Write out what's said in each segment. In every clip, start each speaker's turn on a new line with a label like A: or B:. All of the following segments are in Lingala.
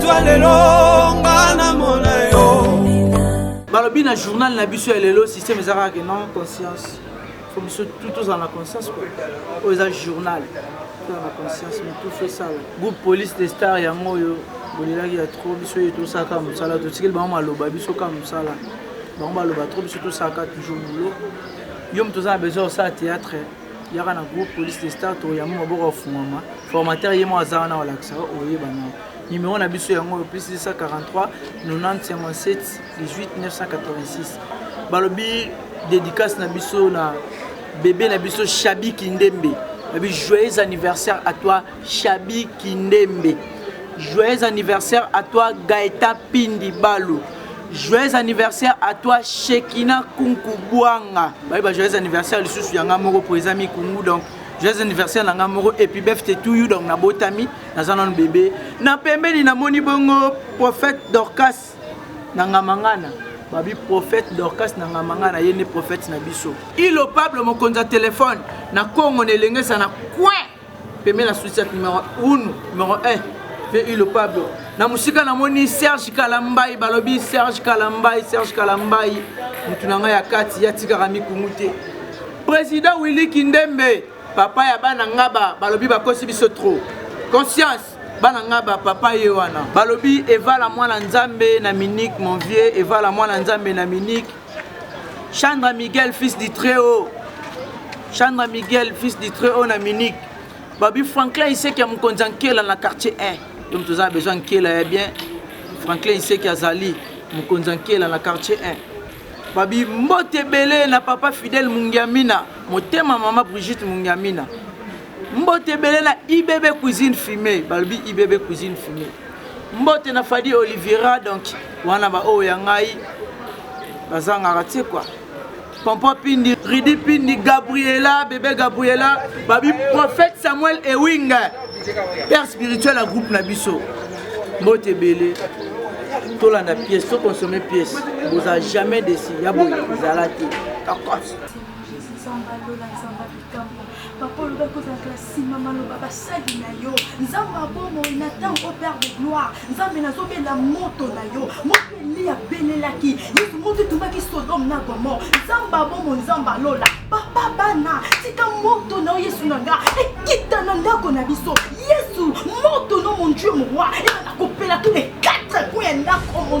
A: Toi lelo nga na mona yo. Balobi
B: na journal na biso ya lelo système eza kaka non conscience. Faut biso tout tozala na conscience quoi. Oyo eza journal. Tozala na conscience mais tout fait ça. Groupe police des stars yango oyo bolelaki ya trop biso ye tosala kaka mosala totikeli bango maloba biso kaka mosala bango baloba trop biso tosala kaka toujours boulot yo moto oza na besoin osala théâtre yaka na groupe police de star tokoyamba maboko afungwama formateur ye moko aza wana balakisa oyeba nao numéro na biso yango oyo plus 243 9057 18 986 balobi dédicace na biso na bebe na biso shabi kindembe babi joyeux anniversaire à toi Shabi Kindembe. Joyeux anniversaire à toi Gaëta Pindi Balu. Joyeux anniversaire à toi Shekina Kunku Bwanga. Bah, bah, joyeux anniversaire lisusu yanga moko po eza mikungu donc joyeux anniversaire na nga moko epi befte to you donc nabotami naza nano bebe na pembeni namoni bongo prophète dorcas na ngamangana babi prophète dorcas na ngamangana ye nde prophète na biso ilo pablo mokonzi ya telefone na kongo na elengesa na coin pemela sucette numero 1 numero 1 mpe ilo pablo na mosika namoni serge kalambai balobi serge kalambai serge kalambai motu na ngai ya kati yatikaka mikungu te président willi kindembe papa ya bana ngaba balobi bakosi biso trop conscience bana nga ba papa ye wana balobi evala mwana nzambe na minike mon vieux evala mwana nzambe na minike Chandra Miguel fils du très haut Chandra Miguel fils du très haut na Munich babi Franklin Iseki ya mokonzi ya Nkela na quartier 1 yo moto oza besoin Nkela ya bien Franklin Iseki azali mokonzi ya Nkela na quartier 1 babi mbote ebele na papa Fidel Mungiamina motema mama Brigitte Mungiamina mbote ebele na ibb cuisine fume balobi ibb cuisine fume mbote na fadi oliviera donc wana baoyo ya ngai bazangaka te kua pompo pindi ridi pindi gabriela bebe gabriela babi prophète samuel ewing père spirituel ya groupe na biso mbote ebele tolanda pièce toconsomme pièce boza jamais desi ya boye ezala te kakos
C: Papa olobaki kozalaka na nsima maloba basali na yo nzambe ya bomoi na ntango o père de gloire nzambe nazobela moto na yo moto eliya abelelaki yesu moto etumaki sodome na gomor nzambe ya bomoi nzambe alola papa bana tika moto na yo yesu na nga ekita na ndako na biso yesu moto no mon dieu moroi ebanda kopela tous les quatre coins ya ndako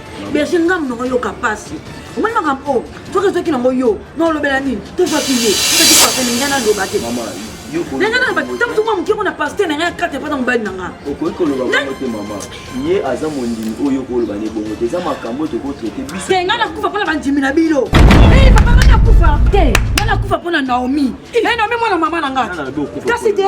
D: berge nga monoko yoka mpasi omoni makambo oyo soki ezwaki nango yo na olobela nini to ezwaki ye okakipasani nga naloba te ndenge na ntango soki moke mpo na paster na ngai ya karte mpo na mobali na nga okoki koloba bongo te
E: mama ye aza mondimi oyo okoloba ne bongo te eza makambo oyo tokotraite biso te ngai nakufa mpo na bandimi
D: na bino e papa ngai nakufa te ngai nakufa mpo na naomi e naomi mwana mama na ngai kasi te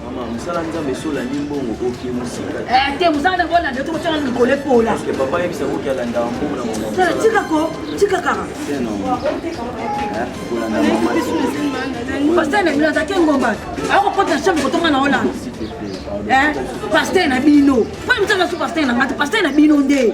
D: mosala nzambe
E: esolani mbongo oke mosika eh, te mosala nde
D: kolanda to kotala likolo epola papa yebisa koki
E: alanda mbongo na mama tika ko
D: tika kaka
E: pasteur na bino azaki
D: engomba akokota na chambre kotonga na holanda eh, pasteur na bino mpo mosala su pasteur na ngati pasteur na bino nde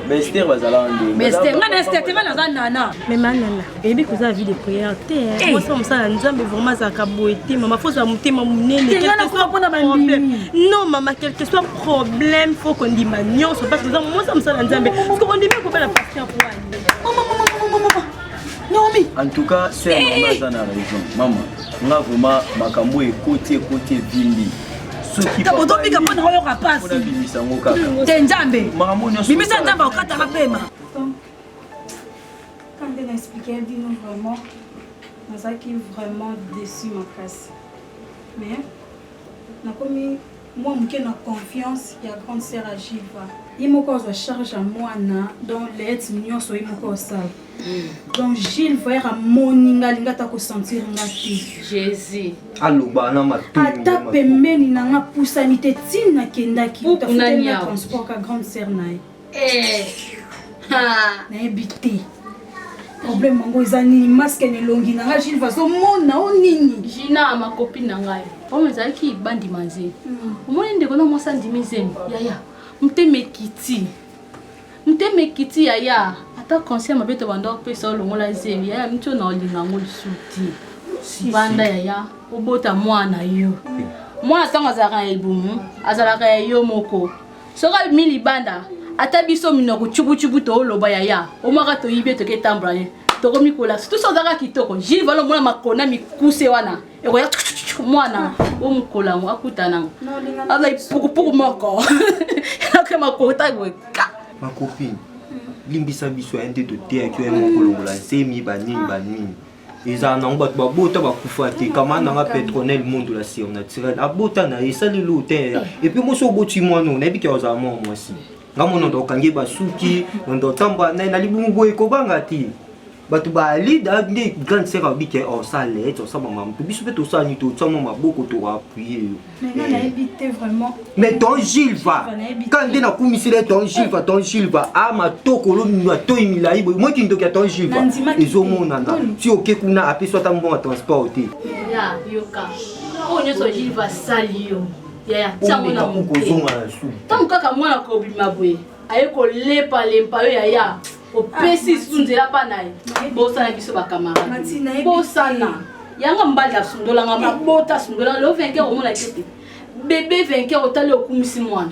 D: Bester bazala
E: nde. Bester nga Bester te
D: bana za nana. Mais manana,
F: ebi koza vie de prière te. Hein. Moi ça musala nzambe vraiment za ka boete mama faut za mutema munene. Te nga na ko pona ba problème. Non mama quel que soit problème faut qu'on dit ma nyonso parce que za moi ça musala nzambe. Parce qu'on dit mais ko bela pasteur pour aller. Maman maman maman maman.
D: Naomi. En tout cas, c'est
E: eh. maman za na raison. Maman, nga vraiment makambo ekoti ekoti vimbi. tobika mpo na oyoka
D: mpasi te nzambe bimisa nzambe akokataka pema
G: nde na explike bino vraiment nazalaki vraiment déçu makasi mais nakomi mwa moke na confiance ya grande sœur agiva ye moko azwa charge ya mwana donc leete nyonso ye moko osala donc gilles voyer amoni nga alingi ata kosentir nga te jésus
H: aloba na
I: matata pembeni
G: na nga pusani te ntina nakendaki transport ka grande sœur na ye eh. nayebi te problème yango eza nini maske na elongi na ngai gilva azomona o nini gina makopi
H: na ngai oyo ezalaki bandi manze hmm. omoni ndeko na mwasi andimi zemi yaya motema ekiti Motema ekiti yaya ata conseil mabe tobanda opesa olongola zemi yaya mitio na olinga yango lisusu te banda yaya obota mwana yo mwana ntango azalaka na libumu azalaka ya yo moko soki abimi libanda ata biso minoko cukucuku tooloba yaya omwaka toyibi etoki etambola ye tokomikola sutusi ozalaka kitoko jilvalo omona makona mikuse wana ekoya mwana o mokolo yango akuta nango azali pukupuku moko ake makota boye makopine
I: limbisa biso ya nde toteyaki yo ya mokolongola nsemi banini ah. banini ezala nango bato babota bakufa te kama nanga petronel mondo la surnaturel abota na ye esali lo te eh. epuis mosi oboti mwana oyo nayebi ke ozala mwana mwasi nga monondo okangi basuki mondo otamba naye na libumu boye kobanga te bato ba alida nde grande sœur alobi ke osala ete osaba mama mpe biso mpe tosala nini totya mwa maboko toappuye yo
G: mais ton gilva
I: ka nde nakumisela ye ton gilva ton gilva a matokolo matoi milai boye moi kindoki ya ton gilva ezomonana si oke kuna apesi ata mbongo ya transport te oyo nyonso
H: gilva asali yo yaya tiango na moke ntango
I: kaka mwana
H: kobima boye aye kolepa lempa yo yaya opesi ah, lisusu nzela mpa na ye bosana biso bakamarade bosana yanga mbali asundolanga mabota asundolanga leo venke omona te te bebe venke otali okumisi mwana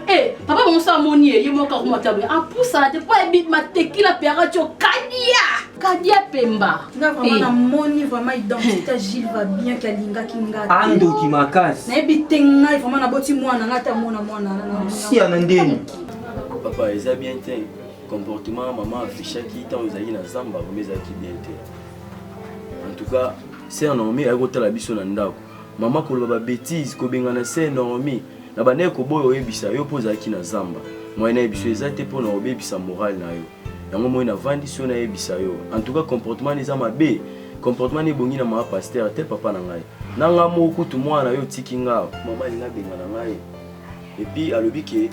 H: Eh, papa bango sa amoni ye ye moko akoma ta boye apusana te mpo ayebi matekila mpe akati okadia kadia pemba namoni
G: vraiment identité ya gile va bien ke alingaki ngaaandoki makasi
I: nayebi te ngai
G: vraiment naboti mwana ngai te amona
E: mwana
I: sia
E: na
G: ndeni papa
I: eza
E: bien te comportement ya mama affichaki ntango ezalaki na zamba vraimen ezalaki bien te en tout cas ser normi ayaki kotala biso na ndako mama koloba babétise kobengana ser normi na bandaki koboya oyebisa yo mpo ozalaki na zamba moyen nayebisa yo eza te mpo na obebisa morale na yo yango moi navandi so nayebisa yo en tout cas comportement eza mabe comportement ebongi na mama paster te papa na ngai na ngai moko kutu mwana yo otiki ngai mama alinga abengana ngai epuis alobi ke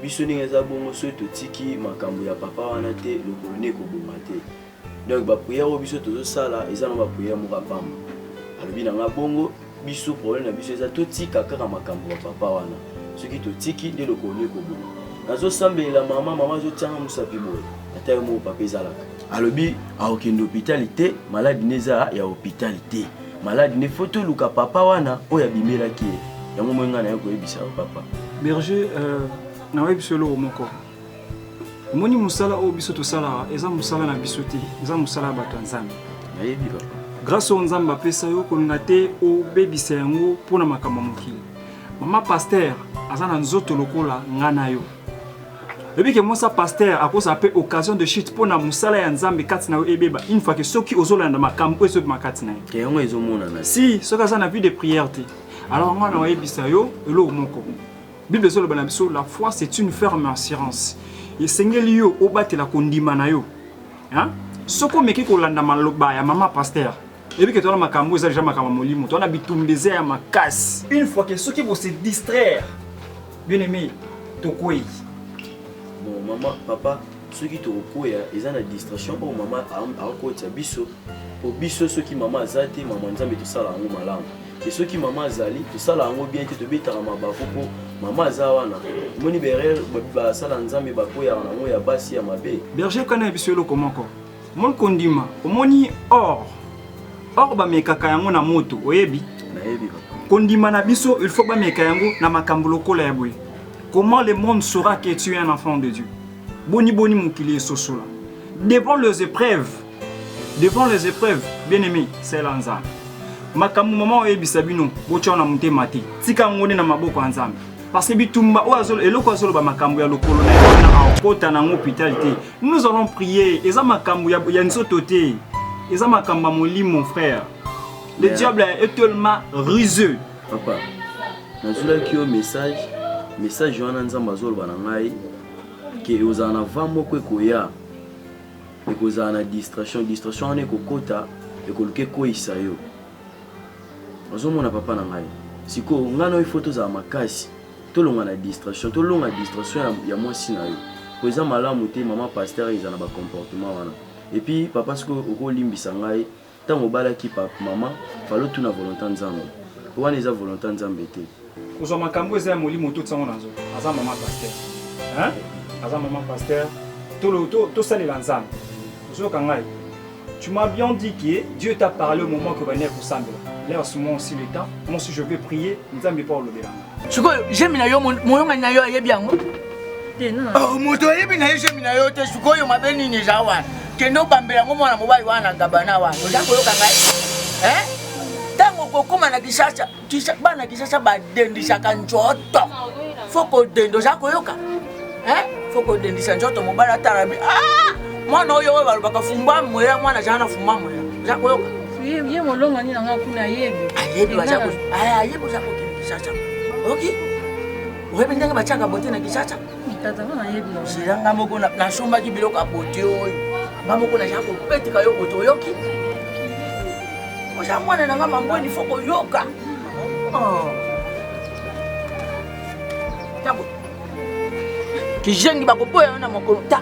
E: Biso ndenge eza bongo soki totiki makambu ya papa wana te lokolo nde ekobonga te donc ba prière oyo biso tozosala eza na ba prière moko ya pamba alobi na nga bongo biso problème na biso eza totika kaka makambu ya papa wana soki totiki nde lokolo nde ekobonga nazosambelela mama mama azotianga mosapi boye ata yo moko papa ezalaka alobi akokende hopitali te maladi nde eza ya hopitali te malade nde faut toluka papa wana oyo abimelaki ye yango moi ngai naye koyebisa yo papa berger euh,
J: nakoyebisa eloko moko omoni mosala oyo biso tosalaka eza mosala na biso te eza mosala ya bato ya nzambe nayebi papa
E: grâce oyo nzambe
J: apesa yo kolinga te obebisa yango mpo na makambo ya mokili mama paster aza na nzoto lokola ngai na yo Lobi ke mosa pasteur akozala pe occasion de chute pona musala ya Nzambe kati na yo ebeba une fois que soki ozolanda makambo ezo bima kati na ye. Ke yango ezo monana.
E: Si soki aza na vie de
J: prière te. Alors nga na oyebisa yo eloko moko. Bible ezo loba na biso la foi c'est une ferme assurance. Esengeli yo obatela kondima na yo. Hein? Soki omeki kolanda maloba ya mama pasteur Ebi que toi na makambo eza déjà makambo molimo. Toi na bitumba eza ya makasi. Une fois que soki vous se distraire. Bien aimé, tokwei.
E: Bon maman, papa, soki tokokweya eza na distraction oyo mama akotya biso po biso soki mama aza te mama nzambe tosala yango malamu e soki mama azali tosala yango bien te tobetaka mabaku mpo mama aza wana omoni berere basala nzambe bakweyaka na yango ya basi ya mabe berger kana ya biso eloko
J: moko Moi kondima omoni or or bamekaka yango na moto oyebi nayebi papa
E: kondima na biso il
J: faut bameka yango na makambo lokola ya boye comment le monde saura que tu es un enfant de dieu boni boni mokili esosola devant les épreuves devant les épreuves bien aimé sela nzambe makambo mama oyebisa bino botya na motema te tika yango nde na maboko ya nzambe parce que bitumba oyo azolo, eloko azoloba makambo ya lokolo na ye wana akota na yango hôpital te Nous allons prier. Eza makambo ya, ya nzoto te. Eza makambo ya molimo frère. Le yeah. diable est tellement ruseux. Papa,
E: nazulaki yo message, message wana Nzambe azoloba na ngai ke ozala na va moko ekoya ekozala na distraction distraction wana ekokota ekoluka ekweyisa yo ozomona papa na ngai sikoyo ngai na yo ifo tozala makasi Tolonga na distraction tolonga distraction ya, ya mwasi na yo po eza malamu te maman pasteur eza na ba comportement wana et puis papa sikoyo okolimbisa ngai ntango obalaki pa maman fale otuna volonta nzambe po wana eza volonta nzambe te Kozwa makambu
J: eza ya molimo to tiango na nzoto aza maman pasteur hein aza maman pasteur tolo to tosalela nzambe ozoyoka ngai Tu m'as bien dit que Dieu t'a parlé au moment que bania kosambela. Là, ce moment aussi l'état, moi aussi je vais prier, Nzambe pa olobela. Sikoyo jemi na yo
B: moyongani na yo ayebi yango? Te non. Oh, moto ayebi na ye jemi na yo te sikoyo mabe nini eza wana? Kende obambela yango mwana mobali wana gabana wana. Oza koyoka ngai? Hein? Tango kokoma na Kinshasa bana kisasa badendisaka njoto fo kodenda oza koyoka fo kodendisa njoto mobali atalabi ah! mwana oyo oyo balobaka fumba mwela mwana azala na fumba mwela oza koyoka ye molongani
H: nanga kuna ayebi ayebi
B: ayebi oza kokende kisasa oki oyebi ndenge batiaka bote na kisasa
H: sila nga moko
B: nasombaki biloko ya bote oyo nga moko naza kopeteka yo bote oyoki oza mwana na nga mangweni fo koyoka oh. kizengi bakoboya yo na mokolo ta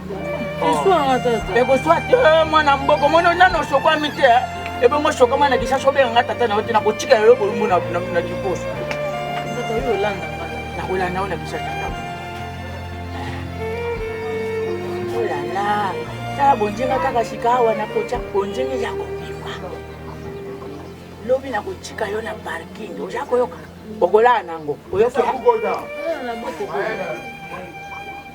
H: ekoswa te eh,
B: mwana mboko mono nano osokwami te eh. ebongo osokama na lisasi obenga nga tata na yo te nakotika yo bolumbu na liposo nakolanda yo na lisasi olala
H: oh
B: tala bonzenga kaka sika awa nakotya bonzenga ya kobima lobi nakotika yo na parking oza koyoka okolala nango oyoki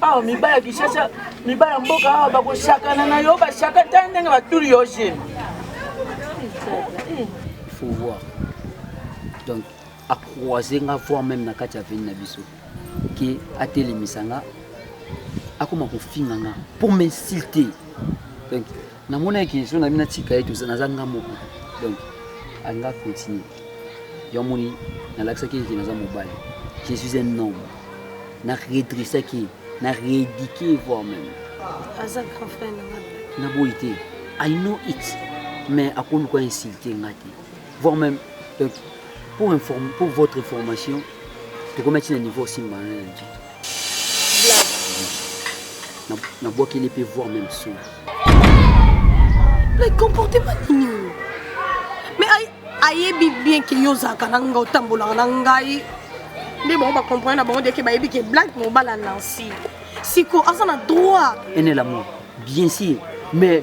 B: awa mibali ya kishasha mibali ya mboka awa bakoshakana na yo bashaka ta ndenge batuli yo gene
K: faut voir donc acroise nga voir même na kati ya veni na biso ke atelemisa nga akoma kofinga nga pour m'insulter donc namonaki so nabi natika ye toza naza nga moko donc anga continue yo amoni nalakisaki eke naza mobali je suis un homme na redressaki na rééduqué voir même aza grand
F: frère na nga naboyi te
K: i know it mais akoluka insulte nga te voir même donc pour inform pour votre information tokomi ti na niveau osimba na na nzoto nabwakeli mpe voir même soki
F: mais comportement nini oyo mais ayebi bien ke yo ozalaka na ngai otambolaka na ngai nde bango bacomprendre na bango deke bayebi ke black mobala nansi siko aza na droit ene lamour
K: bien sûr mais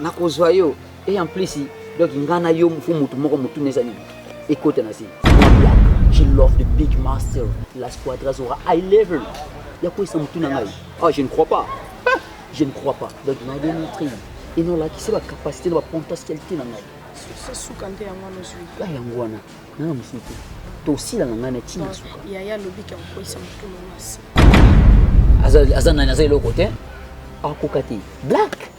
K: nakozwa yo et en plus donc ngai na yo fo motu moko motuna eza nini ekota na se je love the big master la squadra zora high level ya koyesa motuna ngai ah je ne crois pas je ne crois pas donc na démontre et non lakisi bacapacité na bapotentialité na ngai suka nde
F: yango wana ozwi ah, yango wana
K: nanga mosusu te tosila na ngai na ntina suka yaya alobi ke akokoyisa
F: motuna na se aza nani aza eloko te
K: akoka te black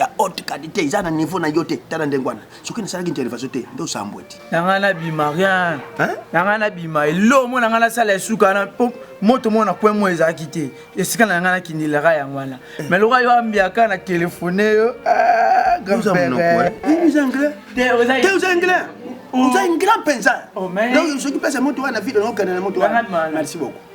L: ya haute qualité eza na niveau na yo te tala ndenge wana soki nasalaki intervention te nde osambwe ti na ngai nabima
B: rien na ngai nabima elo mona ngai nasala esuka wana po moto mona point moko ezalaki te esika na ngai nakindelaka yango wana eh. mais loka yo ambiaka na telefone yo ah, oza ingrat mpenza soki pesa moto wana na
L: vile naokende na moto wana merci beaucoup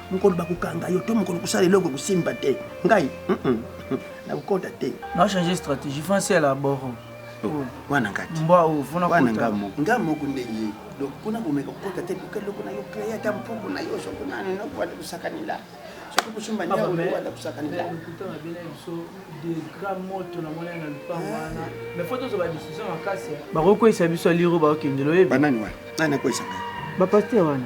L: mokolo bakokanga yo to mokolo kosala eloko ekosimba te ngai nakokota te na change stratégie
B: fansi ala boro oh, wana
L: ngati mbwa oyo fona wana nga
B: moko nga
L: moko nde ye donc kuna komeka kokota te luka eloko na yo créa ata mpuku na yo soko nani nakoanda kosakanela soki
B: kosumba nde okoanda kosakanela bakokweyisa biso aliro bakokendela oyebi banani wana nani akweyisa
L: ngai bapaster wana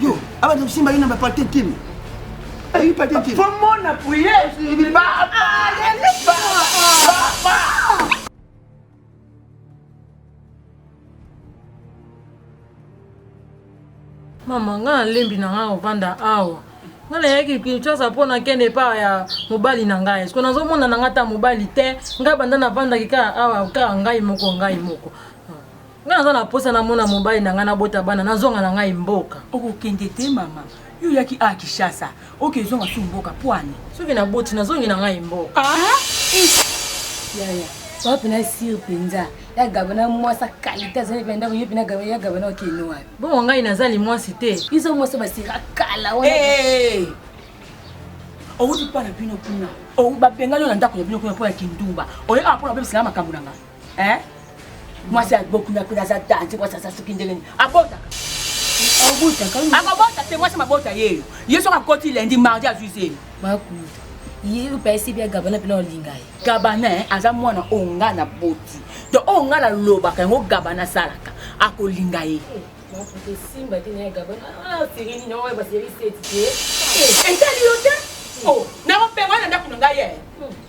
B: Yo, abanda
L: kosimba yo na ba partie kin. Ayi eh, partie kin. Faut mon appuyer.
B: Il va. Ah, il va. Papa.
H: mama ngai nalembi na ngai kovanda awa ngai nayaki kinshasa mpo nakende epa ya mobali na ngai siko nazomona na ngai ata mobali te ngai banda navandaki kaka awa kaka ngai moko ngai moko Nga naza na posa namona mobali na nga nabota bana nazonga na ngai mboka. Okokende te mama.
D: Yo yaki a Kishasa. Oke zonga su mboka pwani. Soki na boti nazongi
H: na ngai mboka.
D: Ah! Ish! Yaya, oa pena sir penza. Ya gabana mwasa kalite azali pena ndako yo pena gabana ya gabana okende wapi? Bongo ngai naza limwasi
H: te. Izo mwasa basira
D: kala wana. Hey! Owuti pa na bino kuna. Owu babenga yo na ndako na bino kuna po ya kindumba. Oye a po na bebisa makambo na nga. eh mwasi ya bokuna kuna za danse mwasi aza soki ndenge nini abotaka akobota te mwasi mabota yeyo ye soki akoti lendi mardi azwi zemi bakuta ye oyo pesi bia gabana mpena olinga ye gabana eh, aza mwana oyo nga na boti to oyo nga nalobaka yango gabana asalaka akolinga ye etali yo te nakopenga na ndako na ngai ye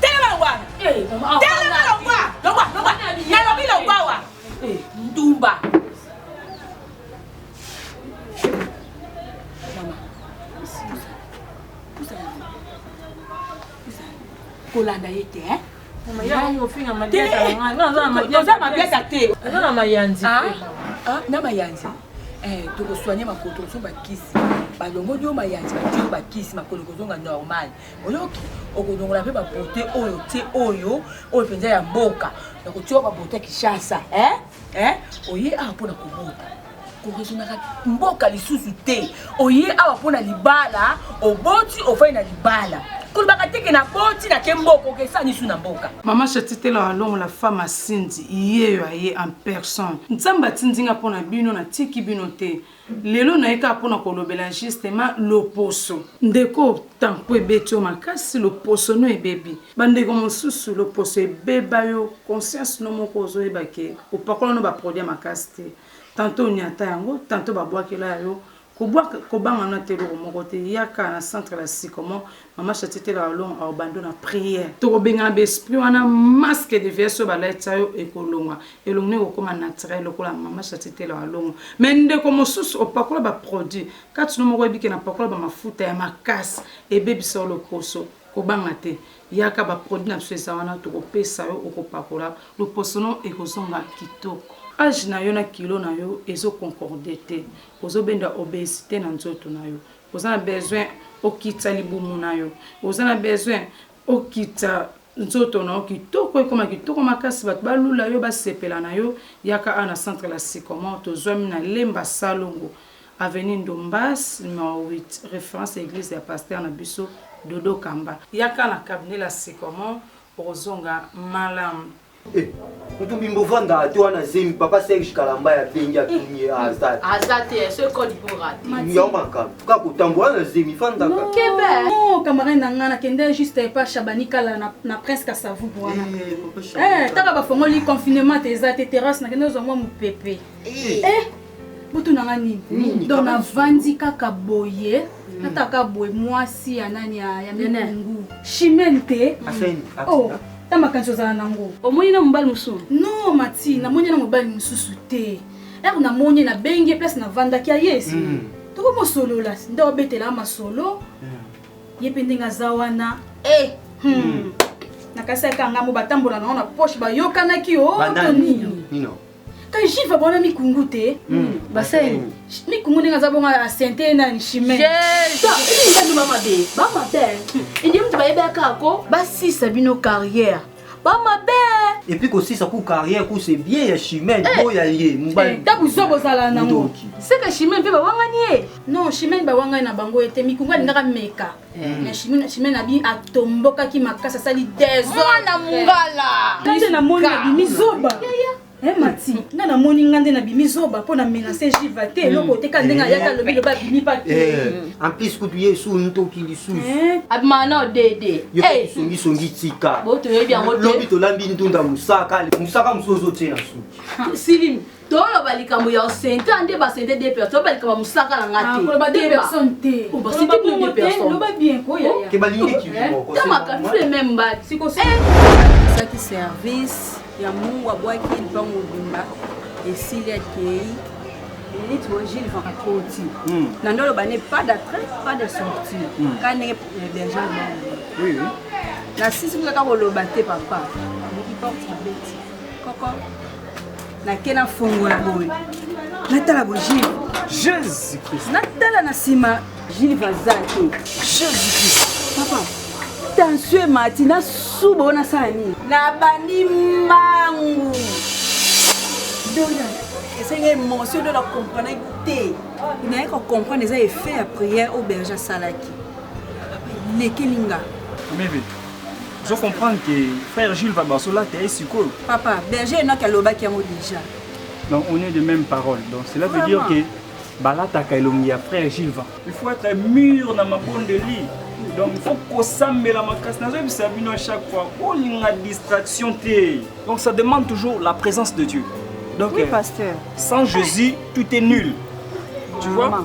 D: Telema
C: longwa.
D: Eh, Telema longwa. Longwa, longwa. Nalobi longwa wa. Eh. Ndumba. kolanda ye te eh? oza
C: mabiata te oza na mayanzi ah, ah, na mayanzi eh, tokosoigne makolo tokosomba kisi balongoli yo mayanzi batio bakisi makolo ekozonga normal oyoki okolongola mpe babote oyo te oyo oyo mpenza ya mboka na kotiwa babote ya kinshasa eh? Eh? oye awa mpo na kobota koresonaka mboka lisusu te oye awa mpo na libala oboti ofai na libala kolobaka teke na boti na ke mboka okesani su na mboka mama shatitela
B: alongola femme asindi yeyo aye en personne nzambe atindi nga mpo na bino natiki bino te Lelo naye kaka pona kolobela justement loposo. Ndeko tempo ebeti yo makasi loposo no ebebi ba ndeko mosusu loposo ebeba yo conscience no moko ozo yeba ke opakola no ba produit ya makasi te tantot oniata yango tantot ba bwakela ya yo kobanga no ata eloko moko te yaka na centre la sycomore Maman Chati te la olonga au bando na prière. Toko bengana ba esprit wana masque de vieille soba la tsayo ekolonga. Elongo ne kokoma naturel lokola maman Chati te la olongo. Mais ndeko mosusu opakola ba produits. Kati no moko ebike na pakola ba mafuta ya makasi ebebisa yo loposo. Kobanga te. Yaka ba produits na biso eza wana toko pesa yo okopakola loposo no ekozonga kitoko. Age na yo na kilo na yo ezo concorder te. Ozo benda obesite na nzoto na yo. Oza na besoin okitisa libumu na yo. Oza na besoin okitisa nzoto na yo kitoko ekoma kitoko makasi bato balula yo basepela na yo yaka a na centre la sycomore tozwami na lemba salongo avenue ndombas numero 8 référence ya église ya pasteur na biso dodo kamba yaka na cabinet la sycomore okozonga malamu Eh,
I: mutu bimbo vanda ate wana zemi papa serge kalamba ya bengi atuni ye aza te aza te
H: ce code pour rater Mati. yango makambo kaka
I: kotambola na zemi fandaka Kebe. Non,
G: camarade na nga nakende juste epa Shabani Kala na, na Prince Kasavubu wana. Eh, papa Shabani. Eh, taka bafongoli confinement te eza te terrasse nakende ozwa mwa mopepe. Eh, butu na nga nini donc navandi kaka boye hmm. ata kaka boye mwasi ya nani ya mikungu chimene te oh, ta makanisi ozala nango omoni na mobali mosusu
H: no mati
G: namoni na mobali mosusu te ere namoni nabengi place navandaki aye esi hmm. toko mosolola nde obetelaka masolo hmm. ye mpe ndenge aza wana eh, nakasi aka ngambo batambola nango na poche bayokanaki o oh, to nini ka jive bona mikungu te hmm. basali
H: mikungu ndenge
G: aza bonga asente nani chimenbanduma
C: mabe bamabe indi moto bayebaka ako basisa bino carrière bamabe epuis kosisa ku
I: carrière ku se bien ya chimene eh. oyo ya ye mobali ntango eh, zo bozala
G: nango seke chimene mpe
C: bawangani ye non chimene
G: bawangani na bango ete mikungu alingaka meka na chimie chimie na bi atombokaki makasi asali desordre mungala
C: nde na moni na
G: bimi zoba Eh, mati nga namoni nga nde nabimi zoba mpo na menase jiva te eloko te ka ndenge ayaka alobi loba abimi pa te en plus kutu ye
I: esu ntoki lisusu abima na
H: odede yo songisongi
I: tika lobi
H: tolambi ntunda
I: mosaka mosaka mosusu ozotie na suki silimi toloba
H: likambo ya sente ande basente de personne toloba likambo ya mosaka na nga tebasentebalingitamakafe
I: meme
H: mbatiosaki
M: service ya mungu abwaki lipango obimba esili akei minute oyo gilles van akoti hmm. na nde oloba ne pas d'attrait pas de sortie hmm. ka ndenge berger na sisi kaka koloba te papa oki porte abeti Koko, nake nafongola boye natala bo Gilles. Jésus Christ.
J: Natala na nsima
M: Gilles aza te. Jésus
J: Christ. Papa,
M: tension emati nasuba oyo nasala nini? Nabandi mbangu. Dona, esengi émotion dona comprenaki te. Naye ko comprendre eza effet ya prière oyo berger asalaki. Papa, elekeli nga. Mimi.
J: ozo comprendre que frère Jules va baso là t'es sikoyo papa berger n'a
M: qu'à lobaki yango déjà donc on est
J: de même parole donc cela veut dire que balataka elongi ya frère Jules va il faut être mûr na mabonde de lit donc il faut kosambela makasi nazoyebisa bino à chaque fois bolinga distraction te donc ça demande toujours la présence de Dieu donc oui, euh, pasteur.
M: sans Jésus
J: tout est nul tu vois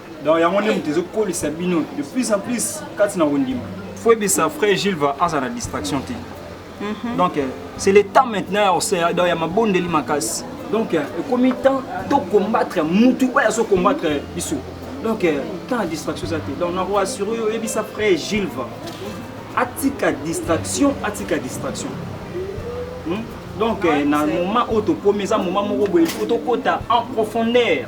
J: donc yango nde moto ezokolisa bino de plus en plus kati na kondima faut yebisa frère gilles va aza na distraction te mhm. donc euh, c'est le temps maintenant ya osea donc ya mabondeli makasi donc euh, ekomi temps tocombattre mutu oyo azocombattre biso donc euh, temps ya distraction eza te donc nako assure yo oyebisa frère gilles va atika distraction atika distraction hmm? donc na moment oyo tokomi eza moment moko boye il faut tokota en profondeur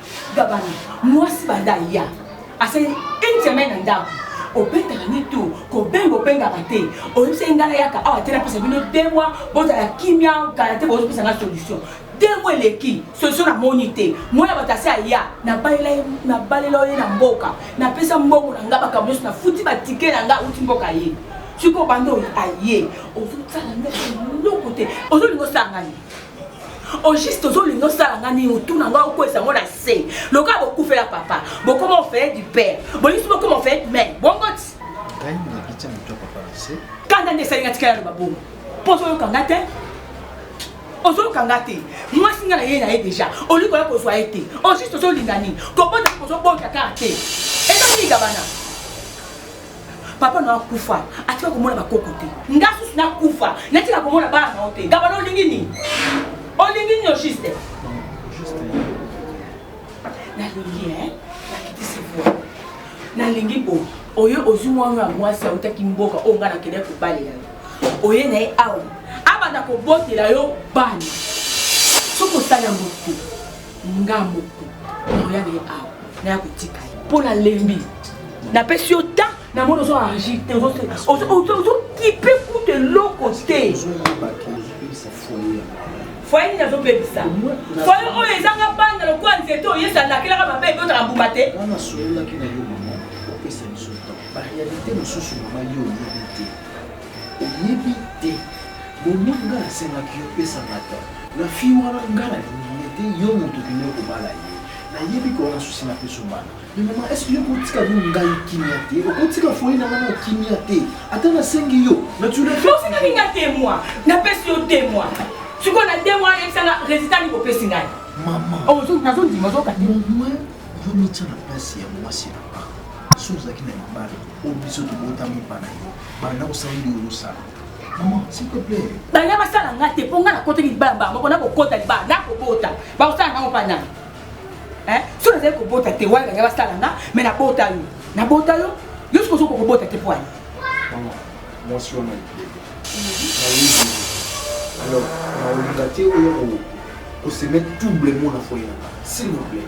D: Gabana, mwasi banda aya asali une semaine na ndako obetaka ni tu kobenga obengaka te oyebisaki ngai nayaka awa te napesa bino deux mois bozala kimia kala te bozopesa ngai solution deux mois eleki solution namoni te mwana bato asi aya nabalela ye na mboka napesa mbongo na ngai bakambo nyonso nafuti batike na ngai auti mboka ye sikoyo banda aye ozosala ngai eloko te ozolinga osala ngai au juste ozolinga osala nga nini otuna nga okwesa yango na se lokola bokufela papa bokoma ofeye du père boyisi bokoma ofeye du mare bongo ti
L: kanda nde esalinga tikala
D: loba bongo mpo ozoyoka nga te ozoyoka nga te mwasi nga na ye na ye deja olingi koya kozwa ye te au juste ozolinga nini kobota kozobota kaka te eza nini kabana papa na akufa atika komona bakoko te nga susu nakufa natika komona bana nao te gabana olingi nini olingi nini ojuste nalingi nakitisi voi nalingi bo oyo ozwi mwana ya mwasi autaki mboka oyo nga nakendaki kobalela yo oye na ye awa abanda kobotela yo bana soki osali yango te nga moko nakoya na ye awa naya kotika ye mpo nalembi napesi yo ta na moni ozo agir te ozokipe kutu eloko te foye nini azobebisa foye oyo ezanga banda lokola nzete oyo yesu alakelaka mabe ebotaka mbuma te
L: barealité mosusu mama yo oyebi te Oyebi te Momo nga na sengaki yo pesa nga temps na fille wana nga na lingi ye te yo mutu okende kobala ye na yebi ke wana souci na peso bana mais maman est ce que yo okotika yo ngai kimia te okotika foyer na nga na kimia te ata na sengi yo na tu le fais osengaki nga te
D: moi na pesi yo te moi sikoyo na te moi yebisa nga résultat ni kopesi ngai maman oh zo
L: nazo ndima
D: zo kati moi yo
L: mitya na place ya mwasi na nga so ozalaki na libala oyo biso tobotami bana yo banda kosala nini ozosala maman s'il te plaît banda basala nga te
D: mpo nga nakota libala mbala moko nakokota libala nakobota bakosala ngango mpa nani so nazali kobota te wana banda basala nga me nabota yo nabota yo yo soki ozokoka kobota te mpo ani
L: mwasi wana alors naolinga te oyo kosemet double mona foye nanga s'il vous plaît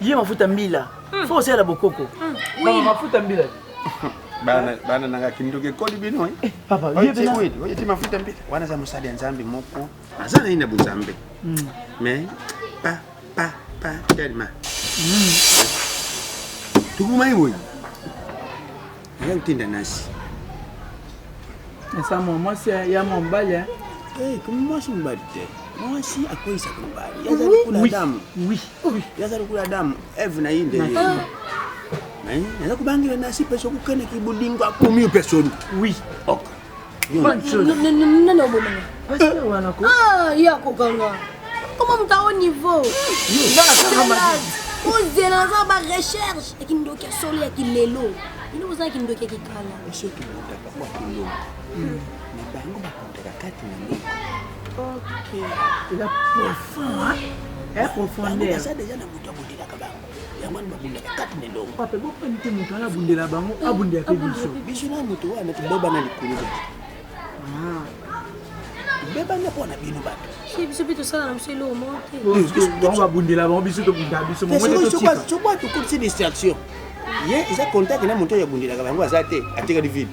B: ye mafuta mbila hmm. fo osala bokoko hmm. mafuta mbila
L: bana nanga kindoki ekoli bino eh,
B: eh, oyeti
L: mafuta mbila wana eza mosali ya nzambe moko aza na ye na bozambe mm. mais pa pa pa telma mm. tokomaki boye aya kotinda nasi
B: esa mwa mwasi ya mwa mobali eh, mwasi
L: mobali te mwasi akoyisaka mobali yaza lokola adamu
B: yaza lokola
L: adamu eve na ye nde naza kobangela nasi mpe soki okanaki bolingo akomi yo mpe soni oui okay.
F: nani obomanga ah, ye akokanga koma moto ao niveau ozela naza ba recherche ya kindoki ya solo ya kilelo ino boza ya kindoki ya kikala
L: bango bakotaka kati na meko
B: eza profond profondeur
L: yango wana babundaka kati na elongo pape bopani te moto wana
B: abundela bango eh, abundela mpe biso biso na moto wana
L: tobebana likolo bato ah. tobebana mpo na bino bato biso mpe tosala na
F: biso eloko moko tebango babundela
B: bango biso tobunda biso soki atokolisi distraction
L: ye eza contact na moto oyo abundelaka bango aza te atikali vile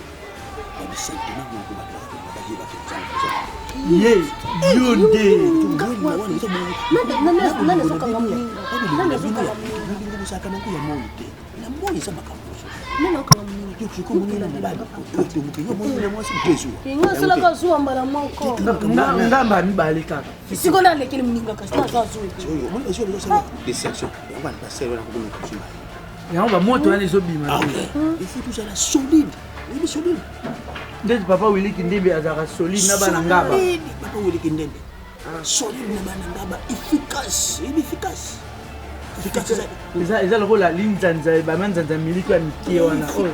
L: ye yo nde
B: ozalaka nango ya moi te na moi eza makambo osolaka zuwa mbala mokongamba mibale kaka siko nalekeli moninga
F: kasi naza zuwa
B: yango bamoto wana ezobima ah ifaut tozala
L: solide oyebi
B: solide ndeti papa wili kindembe azalaka solide na bana ngaba papa wili kindembe
L: ah. solide na bana ngaba efficace oyebi efficace
B: eza lokola linzanza ebama nzanza miliki ya mike wana
L: oyo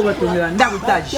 L: batongelaka
B: ndako tage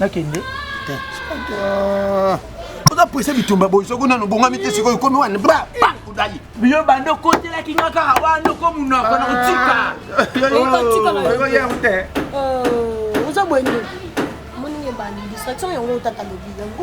B: nakende
L: oza prese bitumba boye soki nano bongami te sikoyo komi wana bakudali biyo banda
B: okotelaki nga kaka wana okomunoko na kotika oza boye nde
F: moninge bandi distraction yango otata lobi yango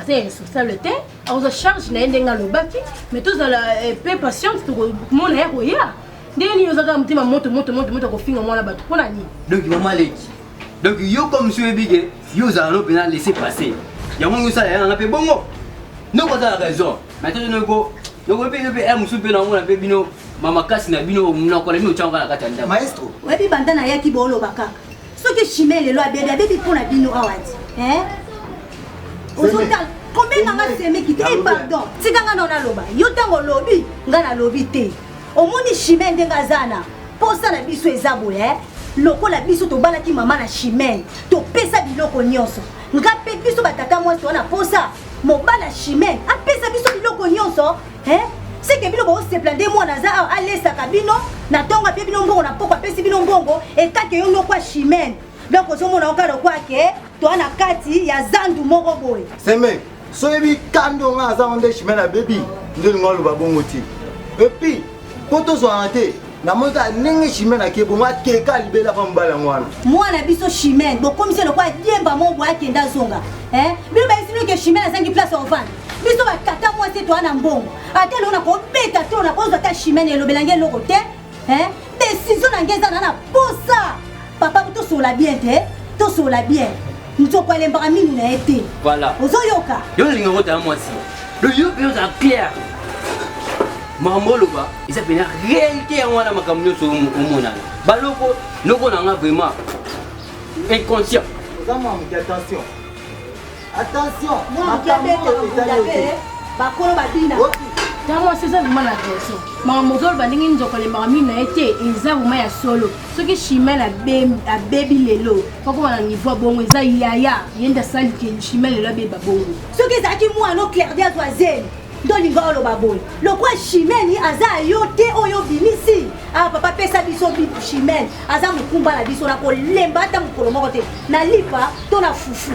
F: aza irresponsable te akozwa charge na ye ndenge alobaki mais tozala eh, pe patiente tokomona ya koya ndenge nini ozaka motema moto moto moto moto akofinga mwana bato mpo na nini donc mama leki
K: donc yo comme si oyebi ke yo ozala no mpena laisse passer yango ngi osala yanga mpe bongo noko ozala raison mais toto noko nokoyebi yo mpe ya mosusu mpe naomona mpe bino mamakasi na bino monoko na bino otyanga na kati ya ndako maestro oyebi banda
N: nayaki
O: booloba kaka soki chimie lelo abebi abebi mpo na bino awa ti ozotala kobenga nga semeki te eh, pardon tika nga nao naloba yo ntango olobi nga nalobi te omoni chimie ndenge aza na mposa na biso eza boye eh? lokola biso tobalaki mama na chimene topesa biloko nyonso nga mpe biso batata mwasi wana mposa mobala chimene apesa biso biloko nyonso Hein? C'est que bino bo se plaindre moi naza awa alesaka bino na tonga pe bino mbongo na poko apesi bino mbongo et kake yo noko chimène. Donc ozomona okala kwa ke toi na kati ya zandu moko boye. Seme, soyebi
N: kando nga aza onde chimène ya baby nde lingo aloba bongo ti. Et puis po tozwana te namoni kaka ndenge chimene ake bongo akeka alibela mpa mobali yango wana mwana biso
O: chimene bokomisi lokola diemba moko boakenda azonga bino bayesinoke chimene azangi place ya ovanda biso batata mwasi toa na mbongo ata eloko nakobeta to nakozwa ata chimene elobela nge eloko te desizio na nge eza na na posa papa tosola bien te tosola bien nzoko alembaka minu na ye te voilà ozoyoka
K: yo olinga
O: kota ya
K: mwasi loyoka ozala claire makambo oloba eza mpena réalité yango wana makambo nyonso omonana baloko noko na nga vraiment inconscient oza mamuki
N: attention
O: Attention, makambo oyo etali
H: yo te. Bakolo babina. ta mwasi eza vraimen na raison makambo ozoloba ndenge nzoko alembaka mino na ye te eza vraimen ya solo soki chimel abebi lelo kokoma na niveau ya bongo eza yaya ye nde asali ke chimel lelo abeba bongo soki ezalaki mwana
O: o clairdi azwa zemi nde olinga oloba boye lokwa chimeni aza yo te oyo obimisi awa ah, papa pesa biso chimene aza mokumba na biso na kolemba ata mokolo moko te na lipa to na fufu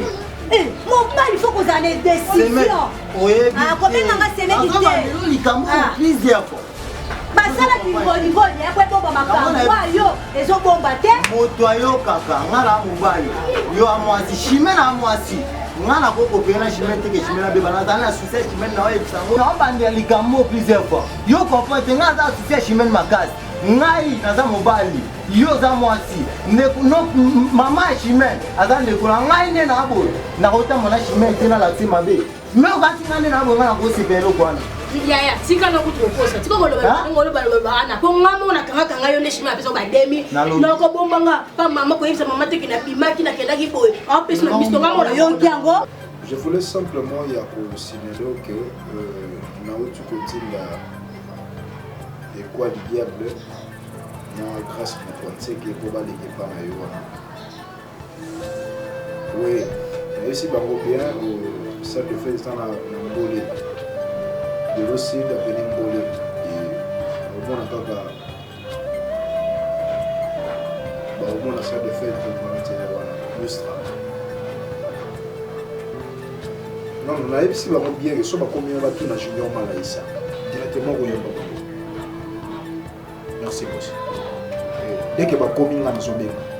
O: eh, mobali fo kozala na decision ah, kobenga nga semeki te
N: basala
O: bingoligoli ya kwebomba makambo wayo ezobomba te moto ayokaka
N: nga na mobali yo ya mwasi shime na mwasi nga na kokopela na shime teke shime na beba nazali na susi ya shime na oyebisa ngo naobandela likambo plusieurs fois yo comprendre te nga aza susi ya shime makasi ngai naza mobali yo oza mwasi mama ya chimene aza ndeko na ngai nde na boye nakotamba na chimene te nalakisi mabe me okati ngai nde na boye ngai nakosepela eloko wana yaya tika
H: na kutu kokosa tika kolobalobaana mpo nga moko nakangaka ngai yo nde chimene apesa bademi nakobomba nga pa mama koyebisa mama teke nabimaki nakendaki boye apesi na biso nga moko nayoki yango Je voulais
P: simplement ya kosimelo que euh, nauti kotinda ekwa du diable na grace moto ya nseke mpo baleki epa na yo wana we nayesi bango bien salle de fete eza na mbole lelo sud apene mbole omona kaka bakomona soit de fait documentele wana mustra non nayebisi bango bien ke so bakomi na batuna junior malaisa directement koyamba bango merci bosi dès ke bakomi nga nazobenga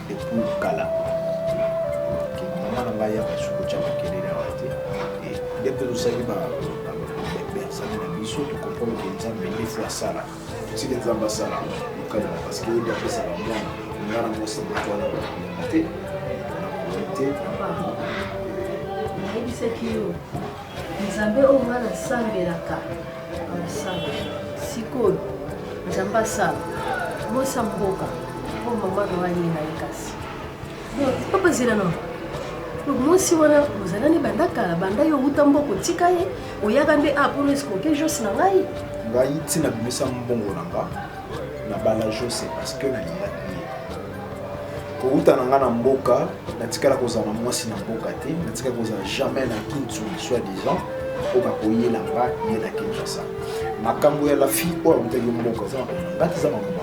P: Depuis kala. Ok, maman na ngai yaka suko tya makelele awa te. Et dès que tosali ba bersani na biso tokomprendre ke nzambe nde fo asala tosili nzambe asala mokano parce que yede apesaka mwana nga na mwasi moto wana bakolonga te nakolongi te
F: nayebisaki yo Nzambe oyo nga nasambelaka aosala sikoyo nzambe asala mosa mboka oyo mama na wani na ye kasi papa zela na mwasi wana ozala nde banda kala banda yo outa mboka otika ye oyaka nde a ah, mpo noesikoke jos na ngai ngai ntina
P: bimisa mbongo na nga na bala jose parce que nalingaki kowuta na nga na mboka natikala kozala na mwasi na mboka te natikala kozala jamais na kintu soit disant oyo bakoyela nga ye na kinshasa makambo ya lafi oyo awutaki mboka eza makambo na ngati eza makambo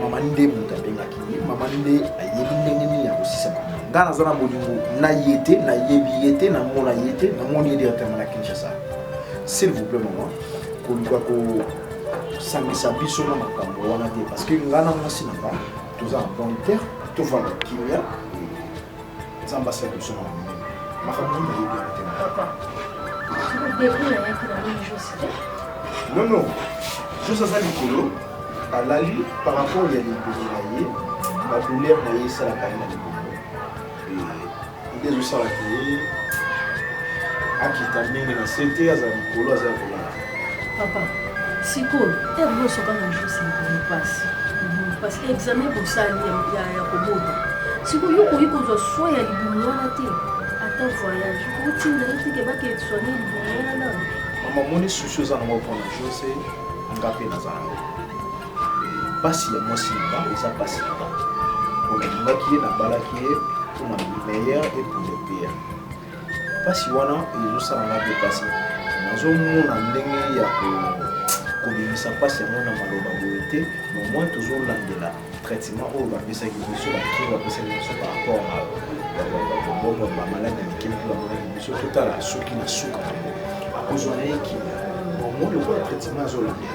P: mama nde moto abengaki ye mama nde ayebi ndenge nini ya kosisa makambo nga naza na bolingo na ye te nayebi ye te namona ye te namoni ye directement na kinshasa s'il vous plaît mama koluka kosangisa biso na makambo wana te parce que nga na mwasi na nga toza na bonne terre tovanda kimia nzambe asala biso na monene makambo nini nayebi yango te non non jose aza likolo alali par rapport ya libolo na ye badouleur na ye esalaka ye na libolo nde ezosala te akita ndenge na se te azala likolo aza ya kolala papa
H: sikoyo ere bosoka na jusi likolo mpasi parce que examen bosali ya kobota sikoyo yo okoki kozwa soi ya libumu wana te ata voyage otinda ye teke bakee soine libumu wana nano mama omoni
P: susi oza nango mpona jose nga mpe naza nango mpasi ya mwasi na nga eza mpasi na nga olingaki ye nabalaki ye mpona meilleur et pour le pire mpasi wana ezosala nga mpe mpasi nazomona ndenge ya kobimisa mpasi yango na maloba boye te nomoi tozolandela traitement oyo bapesaki biso bakiri bapesaki biso par rapport na bobongo bamaladi ya mikili bamonaki biso totala soki na suka yango akozwa na ye kimia bomoi lokola traitement azolandela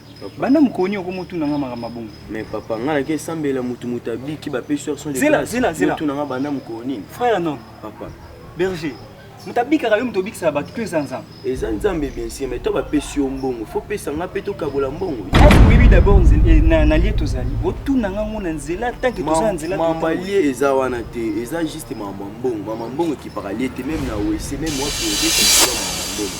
J: banda mokolo nini okomi otuna nga makambo ya bongo mais papa ngai nake
E: esambela motu moto abiki bapesi yo son zela zela zela otuna nga banda
J: mokolo
E: nini frère non papa berger
J: moto abikaka yo moto obikisaka bato to eza nzambe eza nzambe bien
E: sûr mais to bapesi yo mbongo fo pesa nga mpe tokabola mbongo oyebi d'abord
J: eh, na lie tozali otuna nga ngo na nzela tanke toza na nzela mama lie eza
E: wana te eza juste mama mbongo mama mbongo ekipaka lie te meme na wese meme wapi oyebi mama mbongo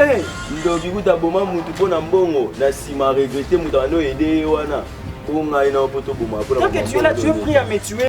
E: Eh, ndoki kuta boma mutu mpo na mbongo na nsima regrete moto abandi oyede ye wana o ngai na mpo toboma mpo na que tu es là tu es pris à
J: me tuer